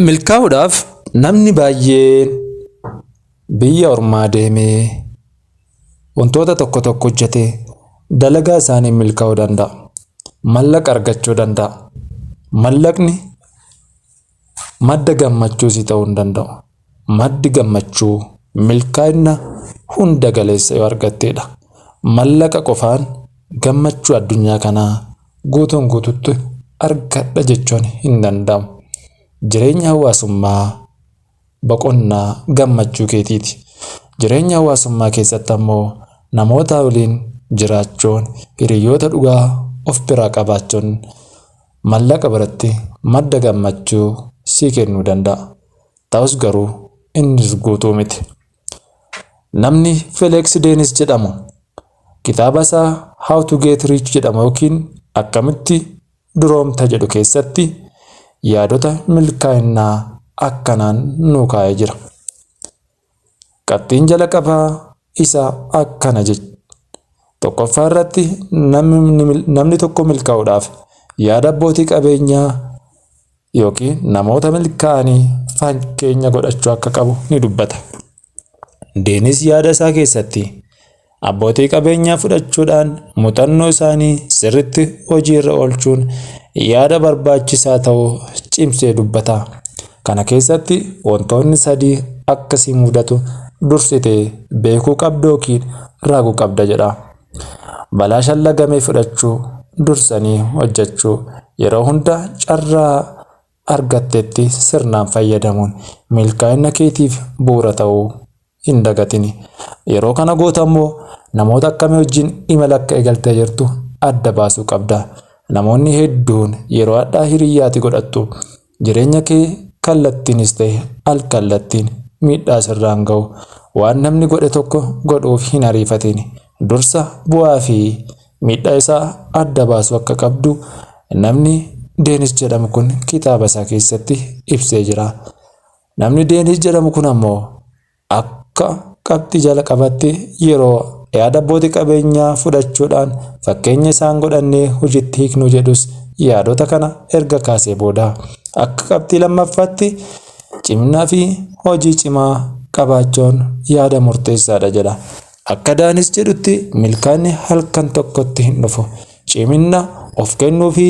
Milkaa'uudhaaf namni baay'een biyya ormaa deemee wantoota tokko tokko hojjetee dalagaa isaaniin milkaa'uu danda'a. Mallaqa argachuu danda'a. Mallaqni madda gammachuu si ta'uu hin danda'u. Maddi gammachuu milkaa'ina hunda galeessa yoo argatteedha. Mallaqa qofaan gammachuu addunyaa kanaa guutuun guututti argadha jechuun hin danda'amu. Jireenya hawaasummaa boqonnaa gammachuu keetiiti. Jireenya hawaasummaa keessatti ammoo namootaa waliin jiraachuun hiriyoota dhugaa of biraa qabaachuun Mallaqa biratti madda gammachuu sii kennuu danda'a. Ta'us garuu innis guutuu miti. Namni Feleeksi Deenis jedhamu kitaaba isaa How to Get Rich jedhamu yookiin Akkamitti Duroomta jedhu keessatti yaadota milkaa'innaa akkanaan nuu kaa'ee jira. Qabxiin jalaqabaa isa akkana jech. Tokkoffaa irratti namni tokko milkaa'uudhaaf yaada abbootii qabeenyaa yookiin namoota milkaa'anii fakkeenya godhachuu akka qabu ni dubbata. Deenis yaada isaa keessatti Abbootii qabeenyaa fudhachuudhaan muuxannoo isaanii sirriitti hojiirra oolchuun yaada barbaachisaa ta'u cimsee dubbata. Kana keessatti wantoonni sadii akka si mudatu dursitee beekuu qabda yookiin raaguu qabda jedha. Balaa shallagame fudhachuu, dursanii hojjechuu, yeroo hunda carraa argattetti sirnaan fayyadamuun milkaa'inna keetiif bu'uura ta'uu hin dagatini. Yeroo kana gootu ammoo namoota akkamii wajjin imala akka eegaltee jirtu adda baasuu qabda. Namoonni hedduun yeroo hadhaa hiriyyaa ati godhattu jireenya kee kallattiinis ta'e al-kallattiin miidhaa sirraan ga'u. Waan namni godhe tokko godhuuf hin ariifatini. Dursa bu'aa fi Miidhaa isaa adda baasuu akka qabdu namni Deenis jedhamu kun kitaaba isaa keessatti ibsee jira. Namni Deenis jedhamu kun ammoo akka qabxii jalaqabatti yeroo yaada abbootii qabeenyaa fudhachuudhaan fakkeenya isaan godhannee hojiitti hiiknuu jedhus yaadota kana erga kaasee booda akka qabxii lammaffaatti cimnaa fi hojii cimaa qabaachuun yaada murteessaadha jedha. Akka Daanis jedhutti milkaa'inni halkan tokkotti hin dhufu. Ciminna, of kennuu fi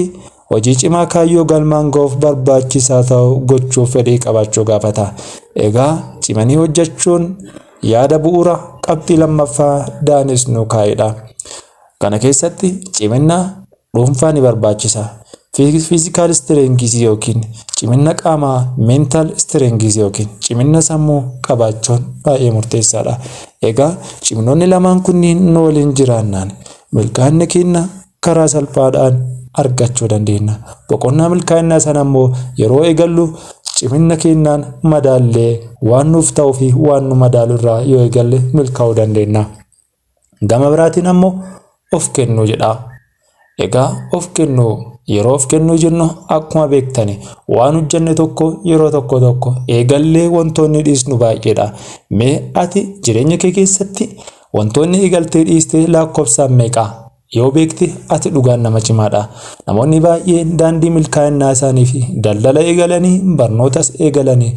hojii cimaa kaayyoo galmaan ga'uuf barbaachisaa ta'u gochuuf fedhii qabaachuu gaafata. Egaa cimanii hojjechuun yaada bu'uura qabxii lammaffaa Daanis nuu kaa'edha. Kana keessatti ciminna dhuunfaa ni barbaachisa. Physical strength yookiin ciminna qaamaa, mental strength yookiin ciminna sammuu qabaachuun baay'ee murteessaadha. Egaa ciminoonni lamaan kunniin nu waliin jiraannaan milkaa'inna keenna karaa salphaadhaan argachuu dandeenya. Boqonnaa milkaa'innaa sana immoo yeroo eegallu ciminna keennaan madaallee waan nuuf ta'uu fi waan nu madaalu irraa yoo eegalle milkaa'uu dandeenya. Gama biraatiin ammoo of kennuu jedha. Egaa of kennuu yeroo of kennuu jennu akkuma beektani waan hojjenne tokko yeroo tokko tokko eegallee wantoonni dhiisnu baay'eedha. Mee ati jireenya kee keessatti wantoonni eegaltee dhiistee lakkoofsaan meeqa? Yoo beekte ati dhugaan nama cimaadha. Namoonni baay'een daandii milkaa'inaa isaanii fi daldala eegalanii barnootas eegalanii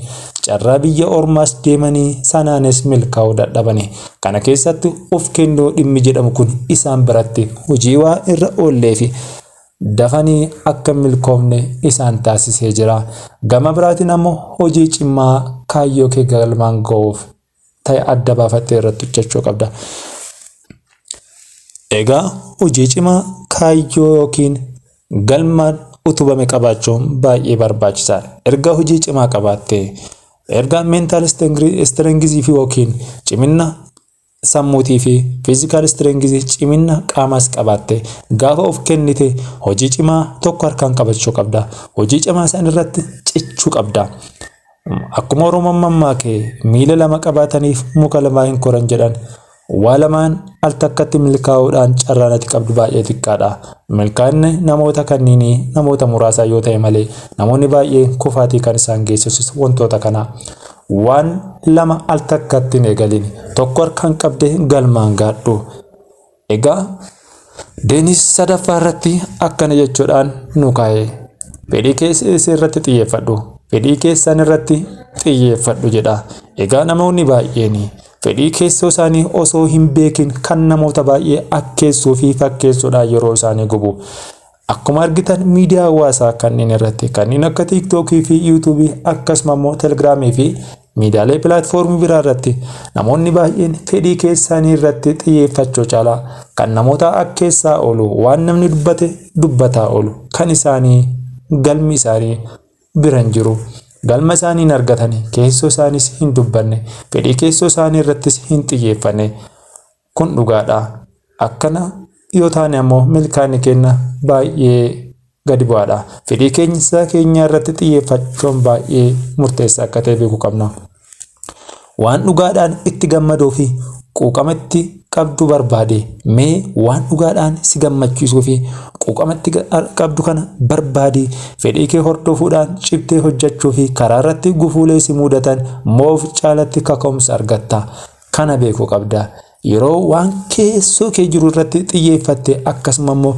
carraa biyya ormaas deemanii sanaanis milkaa'uu dadhabani. Kana keessatti of kennuu dhimmi jedhamu kun isaan biratti hojii waa irra oollee fi dafanii akka hin milkoofne isaan taasisee jira. Gama biraatiin ammoo hojii cimaa kaayyoo kee galmaan ga'uuf ta'e adda baafattee irratti hojjechuu qabda. Egaa hojii cimaa kaayyoo yookiin galmaan utubame qabaachuun baay'ee barbaachisaadha. Erga hojii cimaa qabaattee erga meentaal istireengizii fi yookiin ciminna sammuutii fi fiizikaal istireengizii ciminna qaamaas qabaattee gaafa of kennite hojii cimaa tokko harkaan qabachuu qabda. Hojii cimaa san irratti cichuu qabda. Akkuma Oromoon mammaake miila lama qabaataniif muka lamaa hin koran jedhan waa lamaan al takkatti milkaa'uudhaan carraan ati qabdu baay'ee xiqqaadha. Milkaa'inni namoota kanniinii namoota muraasaa yoo ta'e malee namoonni baay'een kufaatii kan isaan geessisus wantoota kana. Waan lama al takkatti hin eegalin. Tokko harkaan qabdee galmaan gaadhu. Egaa Deenis sadaffaa irratti akkana jechuudhaan nu kaa'e. Fedhii keessan irratti xiyyeeffadhu. Fedhii keessan irratti xiyyeeffadhu jedha. Egaa namoonni baay'een fedhii keessoo isaanii osoo hin beekin kan namoota baay'ee akkeessuu fi fakkeessuudhaan yeroo isaanii gubu. Akkuma argitan miidiyaa hawaasaa kanneen irratti kanneen akka TikTok fi YouTube akkasuma immoo Telegram fi miidiyaalee pilaatfoormii biraa irratti namoonni baay'een fedhii keessaanii irratti xiyyeeffachuu caalaa kan namoota akkeessaa oolu waan namni dubbate dubbataa oolu kan isaanii galmi isaanii bira hin jiru. Galma isaanii hin argatani keessoo isaaniis hin dubbanne fedhii keessoo isaanii irrattis hin xiyyeeffanne. Kun dhugaadha. Akkana yoo taane ammoo milkaa'inni keenya baay'ee gadi bu'aadha. Fedhii keenya isaa keenyaa irratti xiyyeeffachuun baay'ee murteessaa akka ta'e beekuu qabna. Waan dhugaadhaan itti gammaduu fi quuqama itti qabdu barbaade mee waan dhugaadhaan si gammachiisuu fi quuqama itti qabdu kana barbaadi fedhii kee hordofuudhaan cimtee hojjechuu fi karaa irratti gufuulee si muudatan moof caalatti kaka'umsa argatta. Kana beekuu qabda. Yeroo waan keessoo kee jiru irratti xiyyeeffatte akkasuma immoo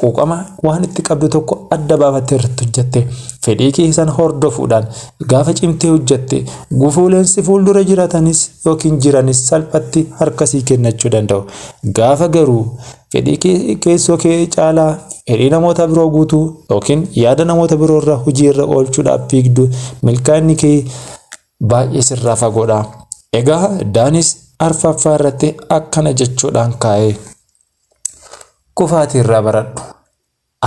quuqama waan itti qabdu tokko adda baafattee irratti hojjette fedhii kee san hordofuudhaan gaafa cimtee hojjette gufuuleen si fuuldura jiratanis yookiin jiranis salphatti harka sii kennachuu danda'u. Gaafa garuu fedhii kee keessoo kee caalaa fedhii namoota biroo guutuu yookiin yaada namoota biroo irra hojii irra oolchuudhaaf fiigdu milkaa'inni kee Baay'ee sirraa fagoodha. Egaa Daanis arfaffaa irratti akkana jechuudhaan kaa'e. Kufaatii irraa baradhu.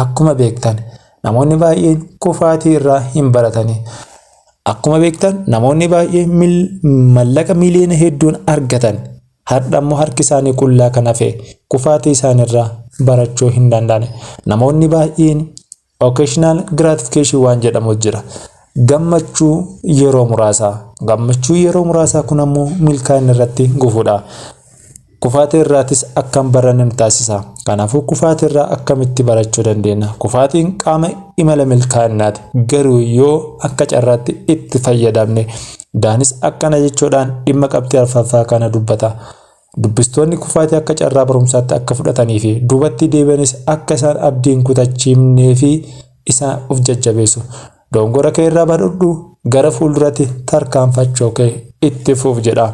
Akkuma beektan namoonni baay'een kufaatii irraa hin baratani. Akkuma beektan namoonni baay'een mallaqa miiliyoona hedduun argatan har'a immoo harki isaanii qullaa kan hafe kufaatii isaaniirraa barachuu hin danda'an. Namoonni baay'een Occasional gratification waan jedhamu jira. Gammachuu yeroo muraasaa. Gammachuu yeroo muraasaa kun ammoo milkaa'ina irratti gufuudha. Kufaatii irraatis akka hin baranne nu taasisa. Kanaafuu kufaatii irraa akkamitti barachuu dandeenya? Kufaatiin qaama imala milkaa'inaati. Garuu yoo akka carraatti itti fayyadamne. Daanis akkana jechuudhaan dhimma qabxii arfaffaa kana dubbata. Dubbistoonni kufaatii akka carraa barumsaatti akka fudhatanii fi duubatti deebi'anis akka isaan abdii hin kutachiifnee fi isaan of jajjabeessu. Dogongora kee irraa barudhu, gara fuulduratti tarkaanfachoo kee itti fuuf jedha.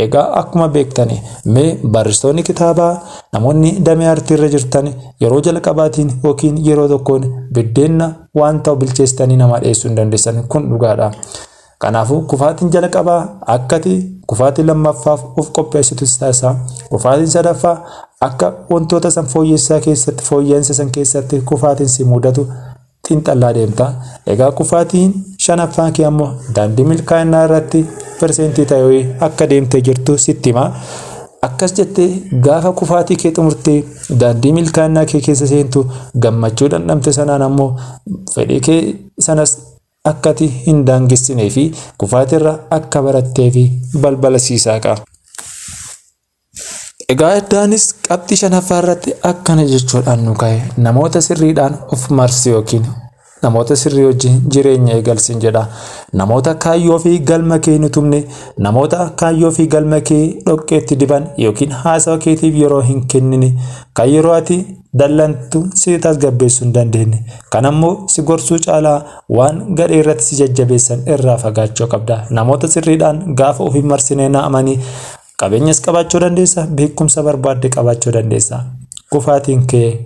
Egaa akkuma beektan mee barreessitoonni kitaabaa namoonni damee artii irra jirtan yeroo jalqabaatiin yookiin yeroo tokkoon biddeenna waan ta'u bilcheessitanii namaa dhiyeessuu hin dandeessan kun dhugaadha. Kanaafuu kufaatiin jalqabaa akkati kufaatii lammaffaaf of qopheessitu si taasisa. Kufaatiin sadaffaa akka wantoota san fooyyessaa keessatti fooyya'insa san keessatti kufaatiin si mudatu xiinxallaa deemta. Egaa kufaatiin shanaffaan kee ammoo daandii milkaa'inaa irratti perseentii ta'ee akka deemtee jirtu sitti hima. Akkas jettee gaafa kufaatii kee xumurtee daandii milkaa'inaa kee keessa seentu gammachuu dhandhamte sanaan ammoo fedhii kee sanas akka ati hin daangessinee fi kufaatirra akka baratteefi balbala sii saaqa. Egaa Addaanis qabxii shanaffaa irratti akkana jechuudhaan nu ka'e namoota sirriidhaan of marsi yookiin namoota sirrii wajjin jireenya eegalsin jedha. Namoota kaayyoo fi galma kee hin utubne, namoota kaayyoo fi galma kee dhoqqeetti diban yookiin haasawa keetiif yeroo hin kennine kan yeroo ati dallantu si tasgabbeessuu hin dandeenye. Kana immoo si gorsuu caalaa waan gadhee irratti si jajjabeessan irraa fagaachuu qabda. Namoota sirriidhaan gaafa ofiin marsinee na'amanii qabeenyas qabaachuu dandeessa, beekumsa barbaadde qabaachuu dandeessa. Kufaatiin kee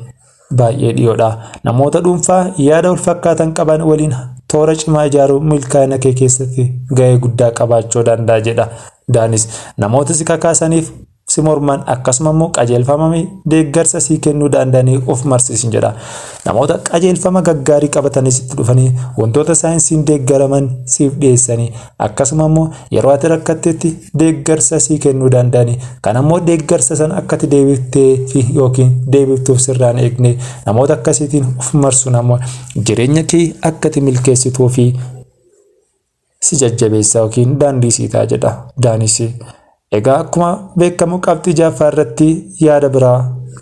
baay'ee dhiyoodha. Namoota dhuunfaa yaada wal fakkaatan qaban waliin toora cimaa ijaaruun milkaa'ina kee keessatti ga'ee guddaa qabaachuu danda'a jedha. Daanis namoota si kakaasaniif si morman akkasuma immoo qajeelfama deeggarsa sii kennuu danda'anii of marsiisin jedha. Namoota qajeelfama gaggaarii qabatanii sitti dhufanii wantoota saayinsiin deeggaraman siif dhiyeessanii akkasuma immoo yeroo ati rakkattetti deeggarsa sii kennuu danda'anii kan ammoo deeggarsa san akkati deebiftee fi yookiin deebiftuuf sirraan eegne namoota akkasiitiin of marsuun ammoo jireenya kee akkati milkeessituu fi si jajjabeessa yookiin daandii sii ta'a jedha Daanis. Egaa akkuma beekamu qabxii jaaffaa irratti yaada biraa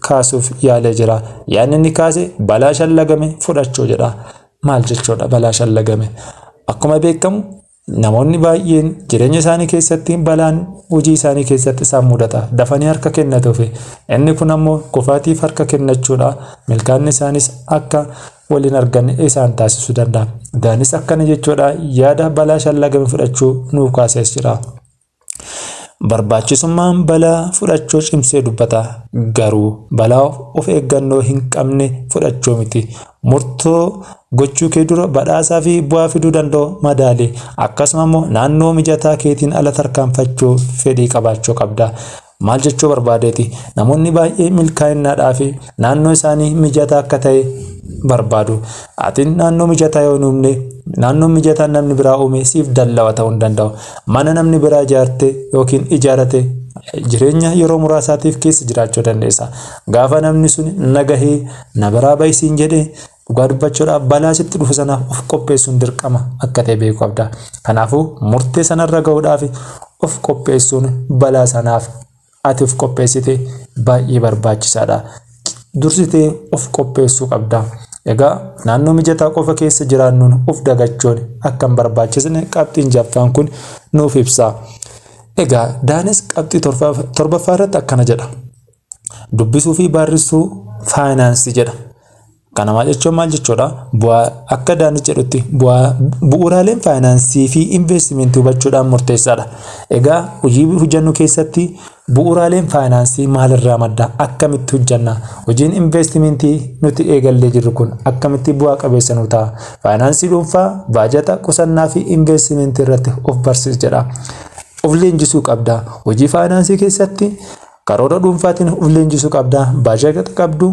kaasuuf yaalee jira. Yaadni inni kaase balaa shallagame fudhachuu jedha. Maal jechuudha balaa shallagame? Akkuma beekamu namoonni baay'een jireenya isaanii keessatti balaan hojii isaanii keessatti isaan mudata. Dafanii harka kennatuufi. Inni kun ammoo kufaatiif harka kennachuudha. Milkaanni isaanis akka wal hin arganne isaan taasisuu danda'a. Daanis akkana jechuudha yaada balaa shallagame fudhachuu nuuf kaasees jira. Barbaachisummaan balaa fudhachuu cimsee dubbata. Garuu balaa of eeggannoo hin qabne fudhachuu miti. Murtoo gochuu kee dura badhaasaa fi bu'aa fiduu danda'u madaali. Akkasuma immoo naannoo mijataa keetiin ala tarkaanfachuu fedhii qabaachuu qabda. Maal jechuu barbaadeeti? Namoonni baay'ee milkaa'innaadhaaf naannoo isaanii mijataa akka ta'e barbaadu. Ati naannoo mijataa yoo hin uumne, naannoo mijataa namni biraa uume siif dallawa ta'uu hin danda'u. Mana namni biraa ijaarte yookiin ijaarate jireenya yeroo muraasaatiif keessa jiraachuu dandeessa. Gaafa namni sun nagahee na biraa bahi siin jedhe Dhugaa dubbachuudhaaf balaa sitti dhufu sanaaf of qopheessuun dirqama akka ta'e beekuu qabda. Kanaafuu murtee sanarra ga'uudhaaf of qopheessuun balaa sanaaf ati of qopheessite baay'ee barbaachisaadha. Dursitee of qopheessuu qabda. Egaa naannoo mijataa qofa keessa jiraannuun of dagachuun akka hin barbaachisne qabxiin jaffaan kun nuuf ibsa. Egaa Daanis qabxii torbaffaa irratti akkana jedha. Dubbisuu fi baarrissuu faayinaansii jedha. Kana maal jechuun maal jechuudha? Bu'aa akka Daanish jedhutti bu'aa bu'uuraaleen faayinaansii fi investimentii hubachuudhaan murteessaadha. Egaa hojii hojjennu keessatti bu'uuraaleen faayinaansii maalirraa madda? Akkamitti hojjenna? Hojiin investimentii nuti eegallee jirru kun akkamitti bu'aa qabeessa nu ta'a? Faayinaansii dhuunfaa, baajata, qusannaa fi investimentii irratti of barsiis jedha. Of leenjisuu qabda. Hojii faayinaansii keessatti Karoora dhuunfaatiin of leenjisuu qabda. Baajata qabdu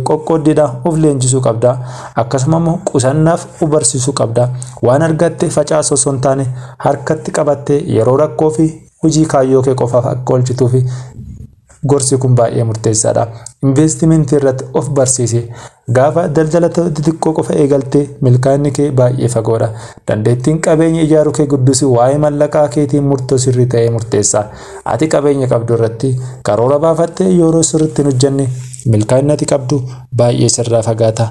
qoqqooddiidha of leenjisuu qabda. Akkasuma immoo qusannaaf of barsiisuu qabda. Waan argatte facaasuu osoo hin taane harkatti qabattee yeroo rakkoo fi hojii kaayyoo kee qofaaf akka oolchituuf gorsi kun baay'ee murteessaadha. Investimentii irratti of barsiisi. Gaafa daldala xixiqqoo qofa eegalte milkaa'inni kee baay'ee fagoodha. Dandeettiin qabeenya ijaaruu kee guddisu waa'ee mallaqaa keetii murtoo sirrii ta'e murteessa. Ati qabeenya qabdu irratti karoora baafattee yooroo sirriitti hin hojjanne milkaa'inni ati qabdu baay'ee sirraa fagaata.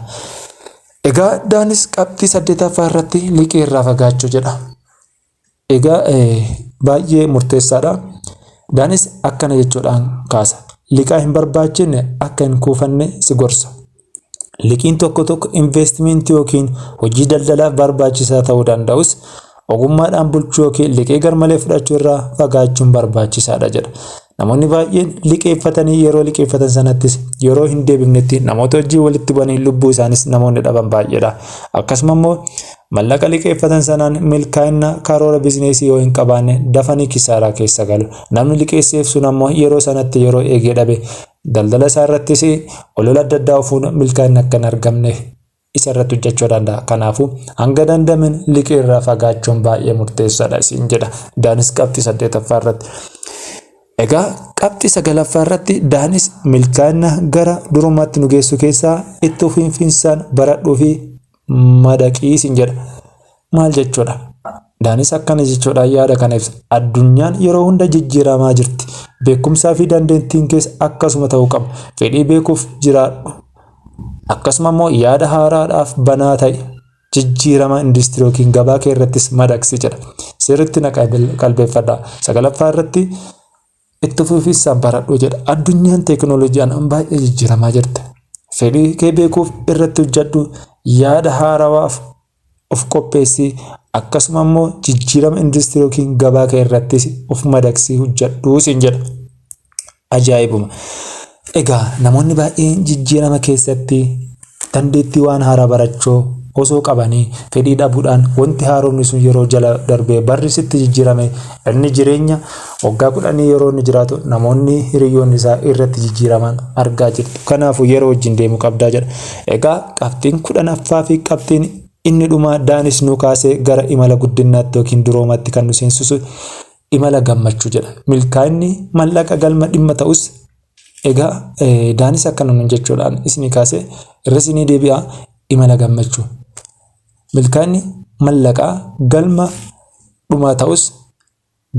Egaa Daanis qabxii saddeetaffaa irratti liqii irraa fagaachuu jedha. Egaa baay'ee murteessaadha. Daanis akkana jechuudhaan kaasa. Liqaa hin barbaachifne akka hin kuufanne si gorsa. Liqiin tokko tokko investimentii yookiin hojii daldalaaf barbaachisaa ta'uu danda'us ogummaadhaan bulchuu yookiin liqii garmalee fudhachuu irraa fagaachuun barbaachisaadha jedha. Namoonni baay'een liqeeffatanii yeroo liqeeffatan sanattis yeroo hin deebifnetti namoota wajjin walitti bu'anii lubbuu isaanis namoonni dhaban baay'eedha. Akkasuma immoo mallaqa liqeeffatan sanaan milkaa'ina karoora bizineesii yoo hin qabaanne dafanii kisaaraa keessa galu. Namni liqeesseef sun ammoo yeroo sanatti yeroo eegee dhabe daldala isaa irrattis olola adda addaa ofuun milkaa'ina akka hin argamne isa irratti hojjechuu danda'a. Kanaafuu hanga danda'ameen liqii irraa fagaachuun baay'ee murteessaadha isin jedha. Daanis qabxii saddeetaffaa irratti. Egaa qabxii sagalaffaa irratti daanis milkaa'ina gara durummaatti nu geessu keessaa itti fufinsaan baradhuu fi madaqii isin jedha. Maal jechuudha? Daanis akkana jechuudhaan yaada kana ibsa. Addunyaan yeroo hunda jijjiiramaa jirti. Beekumsaa fi dandeettiin kees akkasuma ta'uu qaba. Fedhii beekuuf jiraadhu. Akkasuma immoo yaada haaraadhaaf banaa ta'i. Jijjiirama industirii yookiin gabaa kee irrattis madaqsi jedha. Sirriitti na qalbeeffadha. Sagalaffaa irratti Itti fufiinsaan baradhu jedha. Addunyaan teekinooloojiidhaan baay'ee jijjiiramaa jirti. Fedhii kee beekuuf irratti hojjedhu, yaada haarawaaf of qopheessi, akkasuma immoo jijjiirama industirii yookiin gabaa kee irrattis of madaqsii hojjedhu siin jedha. Ajaa'ibuma! Egaa namoonni baay'een jijjiirama keessatti dandeettii waan haaraa barachuu osoo qabanii fedhii dhabuudhaan wanti haaromni sun yeroo jala darbee barri sitti jijjiirame inni jireenya waggaa kudhanii yeroo inni jiraatu namoonni hiriyyoonni isaa irratti jijjiiraman argaa jirtu. Kanaafuu yeroo wajjin deemuu qabdaa jedha. Egaa qabxiin kudhanaffaa fi qabxiin inni dhumaa Daanis nu kaasee gara imala guddinnaatti yookiin duroomatti kan nu seensisu imala gammachuu jedha. Milkaa'inni mallaqa galma dhimma ta'us egaa daanis akkana nun jechuudhaan isinii kaasee irra isinii deebi'a imala gammachuu. Milkaa'inni mallaqaa galma dhumaa ta'us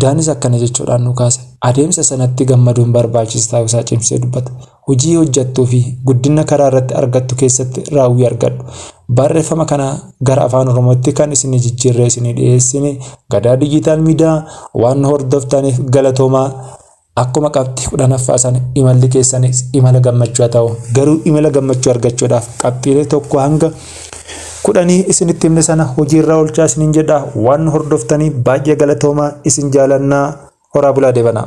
daanis akkana jechuudhaan nu kaase adeemsa sanatti gammaduun barbaachisaa ta'uu isaa cimsee dubbata. Hojii hojjattuu fi guddinna karaa irratti argattu keessatti raawwii argadhu. Baarreeffama kana gara Afaan Oromootti kan isinii jijjiirree isinii dhiyeessine Gadaa Dijiitaal Miidiyaa waan nu hordoftaaniif galatoomaa. Akkuma qabxii kudhanaffaa sana imalli keessanis imala gammachuu haa ta'u. Garuu imala gammachuu argachuudhaaf qabxiilee tokko hanga kudhanii isinitti himne sana hojiirraa oolchaa isiniin jedha. Waan nu hordoftanii baay'ee galatoomaa isin jaalannaa horaa bulaa deebanaa.